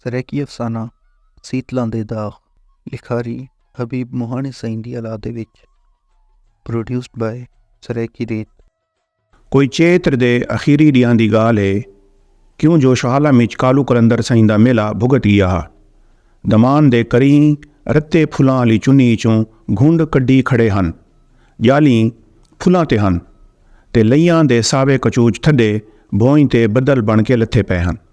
سرائیکی افسانہ سیتلاں دے داغ لکھاری حبیب مہاݨی سئیں دی الادے وچ Produced by Saraiki Read۔ کوئی چیتر دے اخیری ݙینہاں دی ڳالھ ہے کیوں جو شہالم اچ کالو قلندر سئیں دا میلہ بھڳت ڳیا ہا۔ دمان دے کرینہ رتے پھلاں آلی چنی اچوں گھنڈ کڈھی کھڑے ہن۔ ڄالھیں پھلاں تے ہن تے لئیاں دے ساوے کچوچ تھڈے بھوئیں تے بدل بݨ کے لتھے پئے ہن۔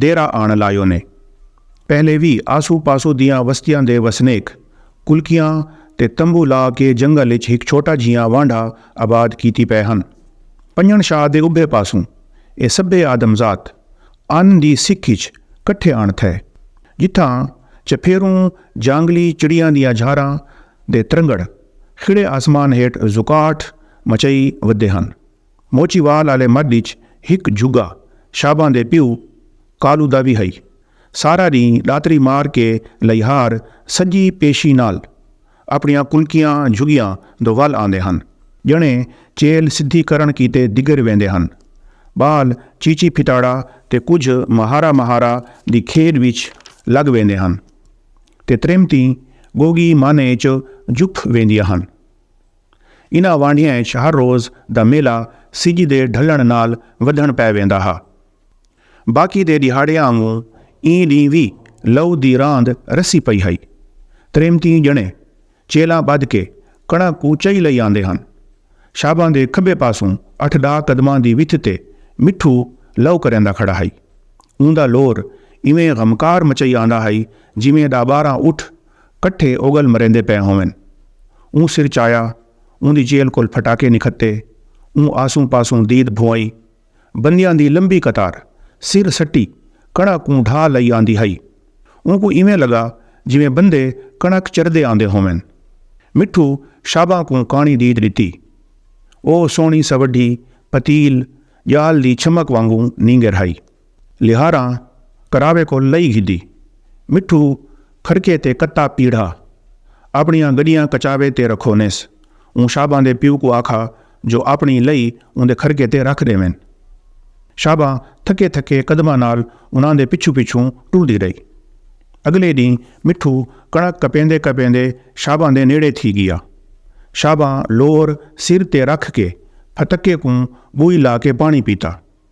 ڈیرہ آن لایو نے۔ پہلے وی آسو پاسو دیاں وستیاں دے وسنیک کلکیاں تے تمبو لا کے جنگل اچ ہک چھوٹا جھیاں وانڈھا آباد کیتی پئے ہن۔ پنجݨ شاہ دے ابھے پاسوں اے سبھے آدم ذات ان دی سکھ اچ کٹھے آن تھئے جتھاں چپھیروں جانگلی چڑیاں دیاں جھاراں دے ترنگڑ کھڑے آسمان ہیٹھ زکاٹھ مچئی ودے ہن۔ موچی وال آلے مڈھ اچ ہک جھگا شاباں دے پیو کالو دا وی ہئی۔ سارا ڈینہہ ڈاتری مار کے لئیہار سجی پیشی نال اپنڑیاں کلکیاں جھگیاں دو ول آندے ہن جنڑے چیل سدھی کرنڑ کیتے دگر ویندے ہن۔ بال چیچی پھتاڑا تے کجھ مہارا مہارا دی کھیڈ وچ لگ ویندے ہن تے تریمتیں گوگی مانھے اچ جھک ویندیاں ہن۔ انہاں وانڈھیاں اچ ہر روز دا میلہ سجھ دے ڈھلݨ نال ودھݨ پئے ویندا ہا۔ باقی دے ݙیہاڑیاں آنگوں ایں ݙینہہ وی لو دی راند رسی پئی ہئی۔ تریمتیں ڄݨے چیلاں ٻدھ کے کݨک کوں چئی لئی آندے ہن۔ شاباں دے کھٻے پاسوں اٹھ ݙاہ قدماں دی وتھ تے مٹھو لو کریندا کھڑا ہئی۔ اوندا لور ایویں غمکار مچئی آندا ہئی جیویں ݙاہ ٻارہاں اٹھ کٹھے اگل مریندے پئے ہوون۔ اوں سر چایا، اوندی جیل کول پھٹاکے نکھتے۔ اوں آسوں پاسوں دید بھوائی۔ بندیاں دی لمبی قطار سر سٹی کݨک کوں ڈھا لئی آندی ہئی۔ اونکوں ایویں لگا جیویں بندے کݨک چردے آندے ہوون۔ مٹھو شاباں کوں کاݨی دید ݙتی۔ او سوہݨی سوڈھی پتیل ڄال دی چھمک وانگوں نینگر ہئی۔ لہاراں کراوے کوں لئی گھدی۔ مٹھو کھڑکے تے کتا پیڑھا آپݨیاں گݙیاں کچاوے تے رکھونیس۔ اوں شاباں دے پیو کوں آکھا جو آپݨی لئی اوندے کھڑکے تے رکھ ݙیون۔ شاباں تھکے تھکے قدماں نال انہاں دے پچھوں پچھوں ٹردی رہی۔ اڳلے ݙینہہ مٹھو کݨک کپیندے کپیندے شاباں دے نیڑے تھی ڳیا۔ شاباں لور سر تے رکھ کے پھتکے کوں ٻوئی لا کے پاݨی پیتا۔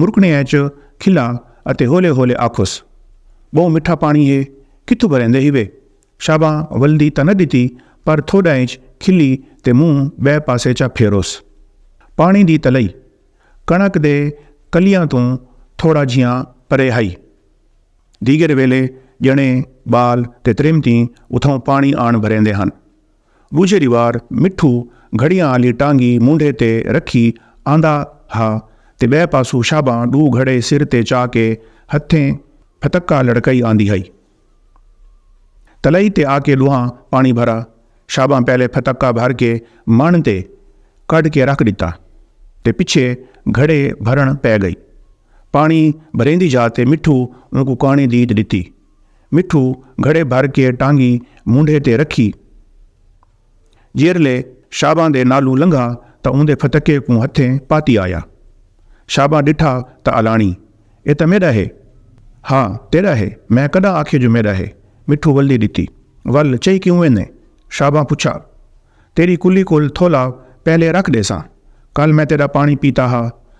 مرکݨے اچ کھلاں اتے ہولے ہولے آکھوس، ٻہوں مٹھا پاݨی ہے، کتھوں بھریندے ہیوے؟ شاباں ولدی تاں نہ ݙتی پر تھوݙاں اچ کھلی تے منہ ٻئے پاسے چا پھیروس۔ پاݨی دی تلئی کݨک دے کلیاں توں تھوڑا جھیاں پرے ہئی۔ دیگر ویلے ڄݨے، ٻال تے تریمتیں اتھاؤں پاݨی آݨ بھریندے ہن۔ ݙوجھے ݙیوار مٹھو گھڑیاں آلی ٹانگی مونڈھے تے رکھی آندا ہا تے ٻئے پاسوں شاباں ݙو گھڑے سر تے چا کے ہتھیں پھتکا لڑکائی آندی ہئی۔ تلائی تے آ کے ݙوہاں پاݨی بھرا۔ شاباں پہلے پھتکا بھر کے مݨ تے کڈھ کے رکھ ݙتا تے پچھے گھڑے بھرݨ پئے ڳئی۔ پاݨی بھریندی جا تے مٹھو اونکوں کاݨی دیت ݙتی۔ مٹھو گھڑے بھر کے ٹانگی مونڈھے تے رکھی۔ جیرھلے شاباں دے نالوں لنگھا تاں اوندے پھتکے کوں ہتھیں پاتی آیا۔ شاباں ڈٹھا تاں الاݨی، اے تاں میݙا ہے۔ ہا تیݙا ہے، میں کݙاں آکھیے جو میݙا ہے۔ مٹھو ولدی ݙتی۔ ول چئی کیوں ویندیں؟ شاباں پچھا۔ تیݙی کلی کول تھولا پہلے رکھ ݙیساں۔ کل میں تیݙا پاݨی پیتا ہا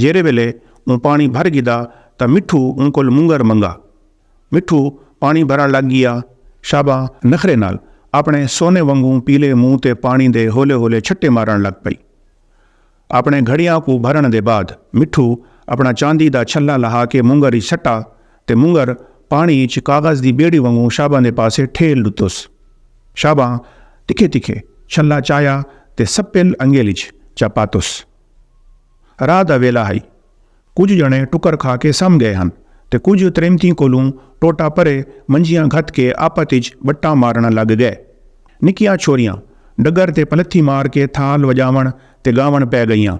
جیرھے ویلے اوں پاݨی بھر گھدا تاں مٹھو اوں کول مونگر منگا۔ مٹھو پاݨی بھرݨ لڳ ڳیا۔ شاباں نخرے نال آپݨے سونے وانگوں پیلے منہ تے پاݨی دے ہولے ہولے چھٹے مارݨ لڳ پئی۔ آپݨے گھڑیاں کوں بھرݨ دے بعد مٹھو آپݨا چاندی دا چھلا لہا کے مونگر اچ سٹا تے مونگر پاݨی اچ کاغذ دی ٻیڑی وانگوں شاباں دے پاسے ٹھیل ݙتس۔ شاباں تکھے تکھے چھلا چایا تے سپل انگل اچ چا پاتس۔ راہ دا ویلا ہئی۔ کجھ ڄݨے ٹکر کھا کے سم ڳئے ہن تے کجھ تریمتیں کولوں ٹوٹا پرے منجیاں گھت کے آپت اچ ٻٹاں مارݨ لڳ ڳئے۔ نکیاں چھوریاں ݙڳر تے پلتھی مار کے تھال وڄاوݨ تے ڳاوݨ پئے ڳئیاں۔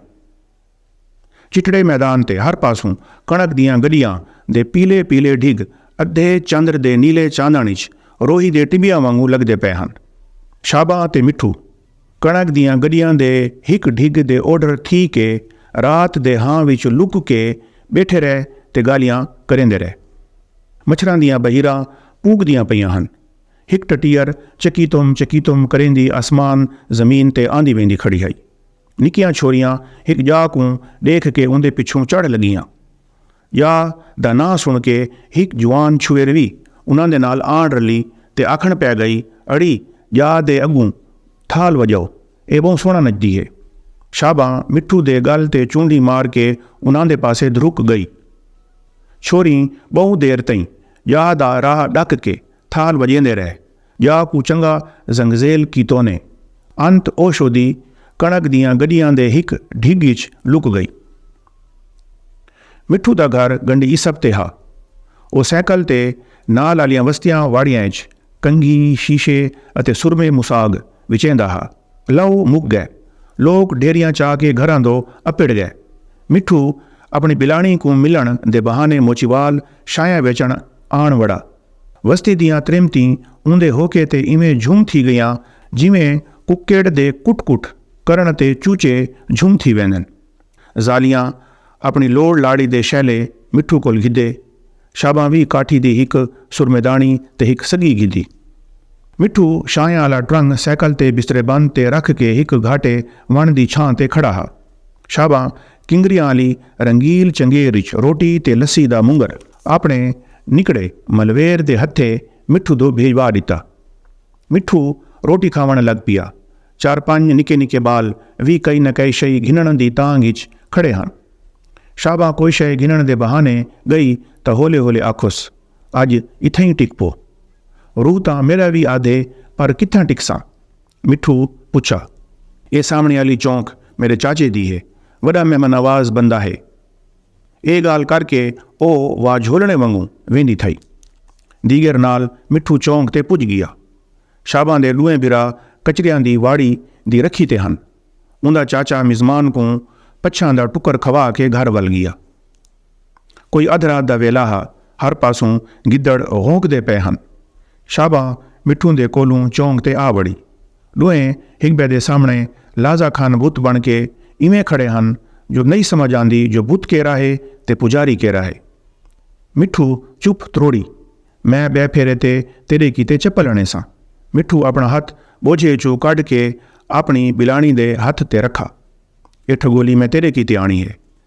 چٹڑے میدان تے ہر پاسوں کݨک دیاں گݙیاں دے پیلے پیلے ڈھڳ ادھے چندر دے نیلے چاندݨ اچ روہی دے ٹٻیاں وانگوں لڳدے پئے ہن۔ شاباں تے مٹھو۔ کݨک دیاں گݙیاں دے ہک ڈھڳ دے اوڈھر تھی کے رات دے ہاں وچ لک کے ٻیٹھے رہ تے ڳالھیاں کریندے رہ۔ مچھراں دیاں بحیراں پونگدیاں پئیاں ہن۔ ہک ٹٹیر چکیتم چکیتم کریندی آسمان زمین تے آندی ویندی کھڑی ہئی۔ نکیاں چھوریاں ہک ڄا کوں ݙیکھ کے اوندے پچھوں چڑھ لڳیاں۔ یا دا ناں سݨ کے ہک جوان چھوہر وی انہاں دے نال آݨ رلی تے آکھݨ پئے ڳئی اڑی ڄا دے اڳوں تھال وڄاؤ اے ٻہوں سوہݨا نچدی ہے۔ شاباں مٹھو دے ڳل تے چونڈی مار کے انہاں دے پاسے دھرک ڳئی۔ چھوہریں ٻہوں دیر تئیں ڄا دا راہ ݙک کے تھال وڄیندے رہ جا کوں چنگا زنگزیل کیتونے۔ انت اوشودی کݨک دیاں گݙیاں دے ہک ڈھڳ اچ لک ڳئی۔ مٹھو دا گھر گنڈی عیسپ تے ہا۔ او سائیکل تے نال آلیاں وستیاں واڑیاں اچ کنگھی، شیشے اتے سرمے مساڳ وچیندا ہا۔ لہو مک ڳئے۔ لوک ڈھیریاں چا کے گھراں دو اپڑ ڳئے۔ مٹھو اپݨی بلاݨی کوں ملݨ دے بہانے موچیوال شاہیں ویچݨ آݨ وڑا۔ وستی دیاں تریمتیں اوندے ہوکے تے ایویں جھم تھی گئیاں جیویں ککڑ دے کٹ کٹ کرݨ تے چوچے جھم تھی ویندن۔ ذالیاں اپݨی لوڑ لاڑی دے شیلے مٹھو کول گھدے۔ شاباں وی کاٹھی دی ہک سرمیداݨی تے ہک سڳی گھدی۔ مٹھو شاہیں آلا ٹرنگ سائیکل تے بسترے بند تے رکھ کے ہک گھاٹے وݨ دی چھاں تے کھڑا ہا۔ شاباں کنگریاں آلی رنگیل چنگیر اچ روٹی تے لسی دا مونگر۔ آپݨے نکڑے ملویر دے ہتھے مٹھو دو بھیجوا ݙتا۔ مٹھو روٹی کھاوݨ لڳ پیا۔ چار پنڄ نکے نکے ٻال وی کئی نہ کئی شئی گھنݨ دی تانگھ اچ کھڑے ہن۔ شاباں کوئی شئے گھنݨ دے بہانے ڳئی تاں ہولے ہولے آکھوس اڄ اتھئیں ٹک پو۔ روح تاں میݙا وی آدھے پر کتھاں ٹکساں؟ مٹھو پچھا۔ اے سامݨے آلی چونک میݙے چاچے دی ہے۔ وݙا مہمانواز بندہ ہے۔ اے ڳالھ کر کے او وا جھولݨے وانگوں ویندی تھئی۔ دیگر نال مٹھو چونک تے پڄ ڳیا۔ شاباں دے ݙوہیں بھرا کچریاں دی واڑی دی رکھی تے ہن۔ اوندا چاچا مزمان کوں پچھاں دا ٹکر کھوا کے گھر ول ڳیا۔ کوئی ادھ رات دا ویلا ہا، ہر پاسوں گدڑ غونکدے پئے ہن۔ شاباں مٹھو دے کولھوں چونک تے آ وڑی۔ ݙوہیں ہک ٻئے دے سامݨے لازہ کھن بت بݨ کے ایویں کھڑے ہن جو نئیں سمجھ آندی جو بت کیرھا ہے تے پجاری کیرھا ہے۔ مٹھو، چپ تروڑی۔ میں ٻئے پھیرے تے تیݙے کیتے چپل اݨیساں۔ مٹھو آپݨا ہتھ ٻوجھے چوں کڈھ کے آپݨی ٻلاݨی دے ہتھ تے رکھا۔ اے ٹھڳولی میں تیݙے کیتے آݨی ہے۔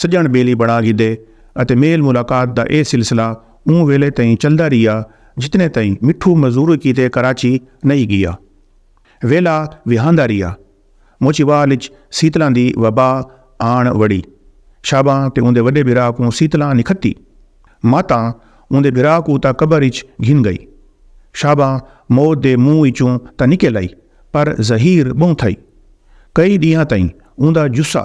سڄݨ ٻیلی بݨا گھدے اتے میل ملاقات دا اے سلسلہ اوں ویلے تئیں چلدا ریہا جتنے تئیں مٹھو مزوری کیتے کراچی نئیں ڳیا۔ ویلھا وہاندا ریہا۔ موچیوال اچ سیتلاں دی وبا آݨ وڑی۔ شاباں تے اوندے وݙے بھرا کوں سیتلاں نکھتی۔ ماتاں اوندے بھرا کوں تاں قبر اچ گھن ڳئی۔ شاباں موت دے منہ اچوں تاں نکل آئی پر زہیر ٻہوں تھئی۔ کئی ݙینہاں تئیں اوندا جثہ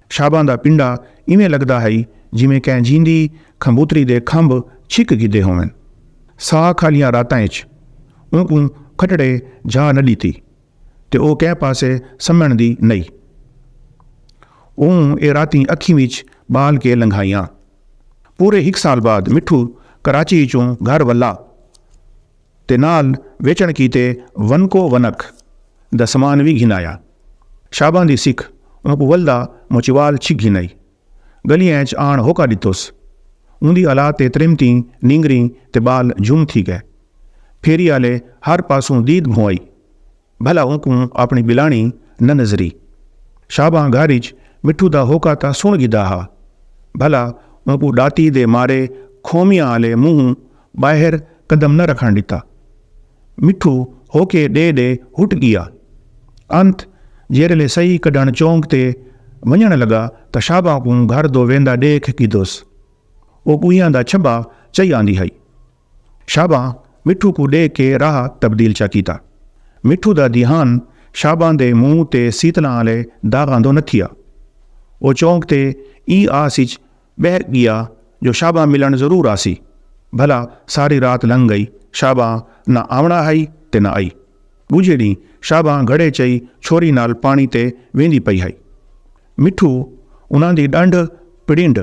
شاباں دا پنڈا ایویں لگدا ہئی جیویں کہیں جیندی کھمبوتری دے کھمب چھک گھدے ہوون۔ ساہ کھالیاں راتاں اچ اونکوں کھٹڑے جاہ نہ ڈتی تے او کہیں پاسے سمنڑ دی نئی۔ اوں اے راتیں اکھیں وچ بال کے لنگھائیاں۔ پورے ہک سال بعد مٹھو کراچی اچوں گھر ولا۔ تے نال ویچݨ کیتے ونکو ونک دا سمان وی گھن آیا۔ شاباں دی سکھ اونکوں ولدا موچیوال چھک گھن آئی۔ ڳلیاں اچ آݨ ہوکا ݙتوس۔ اوندی الا تے تریمتیں نینگریں تے ٻال جھم تھی ڳئے۔ پھیری آلے ہر پاسوں دید بھونئی۔ بھلا اونکوں آپݨی ٻلانڑی نہ نظری۔ شاباں گھر اچ مٹھو دا ہوکا تاں سݨ گھدا ہا بھلا اونکوں ݙاتی دے مارے کھومیاں آلے منہوں ٻاہر قدم نہ رکھݨ ݙتا۔ مٹھو ہوکے ݙے ݙے ہٹ ڳیا۔ انت جیرھلے سئی کڈھݨ چونک تے ونڄݨ لڳا تاں شاباں کوں گھر دو ویندا ݙیکھ گھدوس۔ او ڳوہیاں دا چھٻا چئی آندی ہئی۔ شاباں مٹھو کوں ڈیکھ کے راہ تبدیل چا کیتا۔ مٹھو دا دھیان شاباں دے منہ تے سیتلاں آلے داغاں دو نتھیا۔ او چونک تے ایں آس اچ بہہ گیا جو شاباں ملن ضرور آسی۔ بھلا ساری رات لنگھ گئی شاباں نہ آونڑا ہئی تے نہ آئی۔ ڈوجھے ڈینہہ شاباں گھڑے چئی چھوری نال پانڑی تے ویندی پئی ہئی۔ مٹھو انہاں دی ݙنڈ پڑینڈ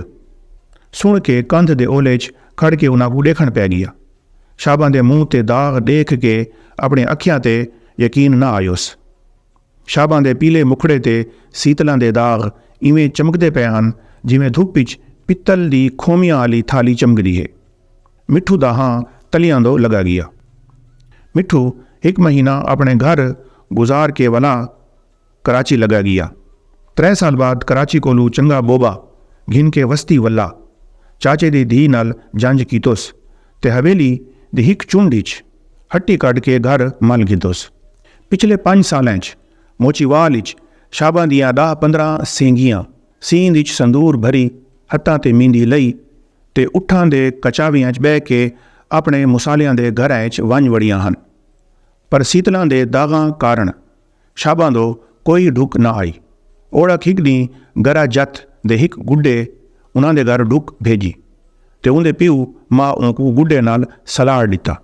سݨ کے کندھ دے اولے اچ کھڑ کے انہاں کوں ݙیکھݨ پئے ڳیا۔ شاباں دے منہ تے داغ ݙیکھ کے اپݨے اکھیاں تے یقین نہ آیوس۔ شاباں دے پیلے مکھڑے تے سیتلاں دے داغ ایویں چمکدے پئے ہن جیویں دھپ اچ پتل دی کھومیاں آلی تھالی چمکدی ہے۔ مٹھو دا ہاں تلیاں دو لڳا ڳیا۔ مٹھو ہک مہینہ اپݨے گھر گزار کے ولا کراچی لگا گیا۔ ترے سال بعد کراچی کولوں چنگا بوبا گھن کے وستی ولا چاچے دی دھی نال جنج کیتوس تے حویلی دی ہک چنڈ اچ ہٹی کڈھ کے گھر مل گھدوس۔ پچھلے پنج سالاں اچ موچیوال اچ شاباں دیاں ڈاہ پندراں سینگیاں سیند اچ سندور بھری ہتھاں تے میندی لئی تے اٹھاں دے کچاویاں اچ بہہ کے اپنے مسالیاں دے گھراں اچ ونج وڑیاں ہن پر سیتلاں دے داغاں کارن شاباں دو کوئی ڈھک نہ آئی۔ اوڑک ہک ڈینہہ گرا جت دے ہک گڈے انہاں دے گھر ڈھک بھیجی تے اوندے پیو ماء اونکوں گڈے نال سلاڑ ڈتا۔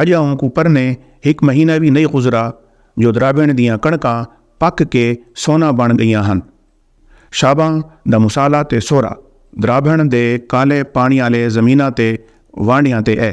اجاں اونکوں پرنے ہک مہینہ وی نئیں گزرا جو درابنڑ دیاں کڑکاں پک کے سونا بنڑ گئیاں ہن۔ شاباں دا مسالہ تے سورا درابنڑ دے کالے پانڑی آلے زمیناں تے وانڈیاں تے اے۔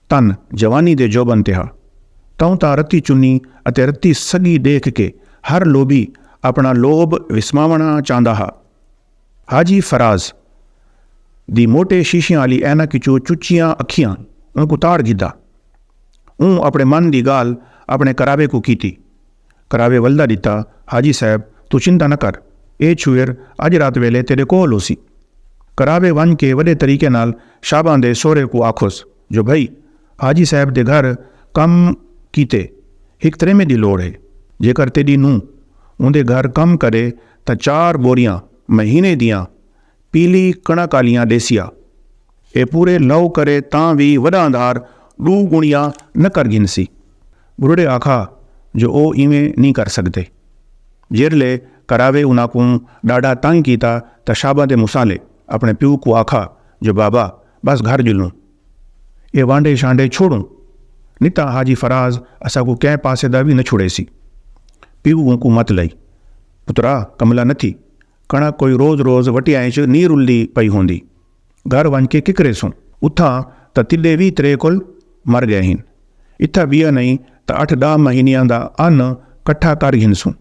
تن جوانی دے جوبن تے ہا توں تاں رتی چنی اتے رتی سڳی ݙیکھ کے ہر لوبھی اپݨا لوبھ وسماوݨا چاہندا ہا۔ حاجی فراز دی موٹے شیشیاں آلی عینک اچوں چچیاں اکھیاں اونکوں تاڑ گھدا۔ اوں اپݨے من دی ڳالھ اپݨے قرابے کوں کیتی کراوے ولدا ڈتا حاجی صاحب توں چنتا نہ کر اے چھوئر اج رات ویلے تیڈے کول ہوسی کراوے ونج کے وڈے طریقے نال شاباں دے سہرے کوں آکھوس جو بھئی حاجی صاحب دے گھر کم کیتے ہک تریمے دی لوڑ ہے جیکر تیڈی نونہہ اوندے گھر کم کرے تاں چار بوریاں مہینے دیاں پیلی کݨک آلیاں ݙیسیا۔ اے پورے لہو کرے تاں وی وݙا اندھار ݙو ڳݨیا نہ کر گھنسی۔ ٻڈھڑے آکھا جو او ایویں نی کر سڳدے۔ جیرھلے کراوے انہاں کوں ݙاڈھا تنگ کیتا تاں شاباں دے مصالے اپݨے پیو کوں آکھا جو بابا ٻس گھر ڄلوں۔ اے وانڈھے شانڈھے چھوڑوں۔ نی تاں حاجی فراز اساں کوں کہیں پاسے دا وی نہ چھوڑیسی۔ پیو اونکوں مت لئی۔ پترا کملا نتھی۔ کݨک کوئی روز روز وٹیاں اچ نی رلدی پئی ہوندی۔ گھر ونڄ کے ککریسوں۔ اتھاں تاں تݙے وی ترے کل مر ڳئے ہن۔ اتھاں ٻیا نئیں تاں اٹھ ݙاہ مہینیاں دا ان کٹھا کر گھنسوں۔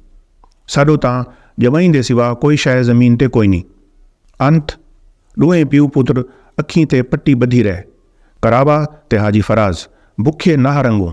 ساݙو تاں ڄمئیں دے سوا کوئی شئے زمین تے کوئنی۔ انت ݙوہیں پیو پتر اکھیں تے پٹی ٻدھی رہ۔ کراوا تے حاجی فراز بکھے ناہ رنگوں۔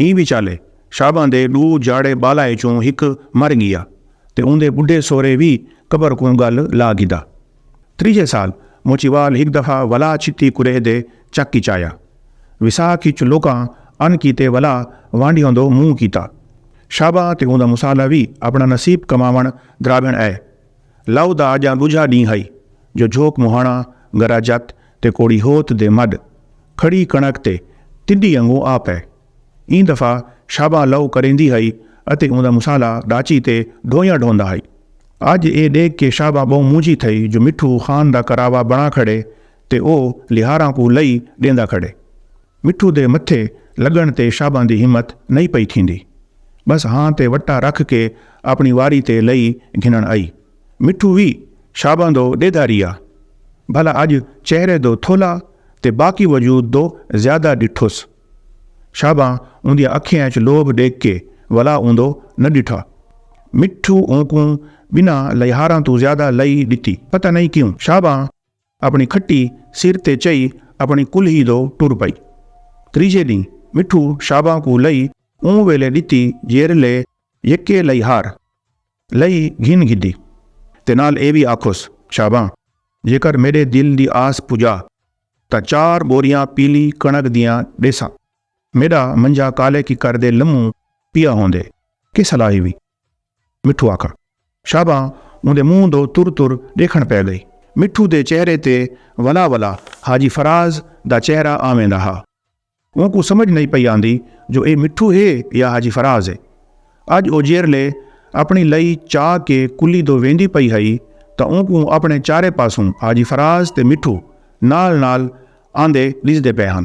ایں وچالے شاباں دے ݙو جاڑے ٻالاں ءچوں ہک مر ڳیا تے اوندے ٻڈھے سورے وی قبر کوں ڳل لا گھدا۔ تریجھے سال موچیوال ہک دفعہ ولا چھتی کریہ دے چک ءچ آیا۔ وساکھ ءچ لوکاں ان کیتے ولا وانڈیوں دو منہ کیتا۔ شاباں تے اوندا مصالحہ وی اپݨا نصیب کماوݨ درابھݨ ء۔ لو دا اجاں ڈوجھا ڈینہہ ہئی جو جھوک مہاݨا گرا جت تے کوڑی ہوت دے مڈھ کھڑی کݨک تے تݙی انگوں آ پئے۔ ایں دفعہ شاباں لو کریندی ہئی اتے اوندا مصالحہ ڈاچی تے ڈھویاں ڈھوندا ہئی۔ اج اے ڈیکھ کے شاباں بہوں مونجھی تھئی جو مٹھو خان دا کراوا بݨا کھڑے تے او لیہاراں کوں لئی ڈیندا کھڑے۔ مٹھو دے متھے لڳݨ تے شاباں دی ہمت نئیں پئی تھیندی۔ ٻس ہاں تے وٹا رکھ کے آپݨی واری تے لئی گھنݨ آئی۔ مٹھو وی شاباں دو ݙیدھا ریہا۔ بھلا اڄ چہرے دو تھولا تے باقی وجود دو زیادہ ݙٹھس۔ شاباں اوندیاں اکھیاں اچ لوبھ ݙیکھ کے ولا اوندو نہ ݙٹھا۔ مٹھو اونکوں ٻنہاں لئیہاراں توں زیادہ لئی ݙتی۔ پتہ نئیں کیوں شاباں۔ اپݨی کھٹی سر تے چئی اپݨی کلہی دو ٹر پئی۔ تریجھے ݙینہہ مٹھو شاباں کوں لئی اوں ویلے ݙتی جیرھلے یکے لئی ہار لئی گھن گھدی تے نال اے وی آکھوس شاباں جیکر میݙے دل دی آس پجا تاں چار ٻوریاں پیلی کݨک دیاں ݙیساں۔ میݙا منجھا کالے ککر دے لموں پیا ہوندے کس حلاہی وی مٹھو آکھا۔ شابا اوندے منہ دو تر تر ڈیکھن پے گئی۔ مٹھو دے چہرے تے ولا ولا حاجی فراز دا چہرہ آویں دا ہا۔ اونکوں سمجھ نئیں پئی آندی جو اے مٹھو ہے یا حاجی فراز ہے۔ اج او جیرھلے اپنی لئی چا کے کلی دو ویندی پئی ہئی تاں اونکوں اپنے چارے پاسوں حاجی فراز تے مٹھو نال نال آندے ڈیجھدے پے ہن۔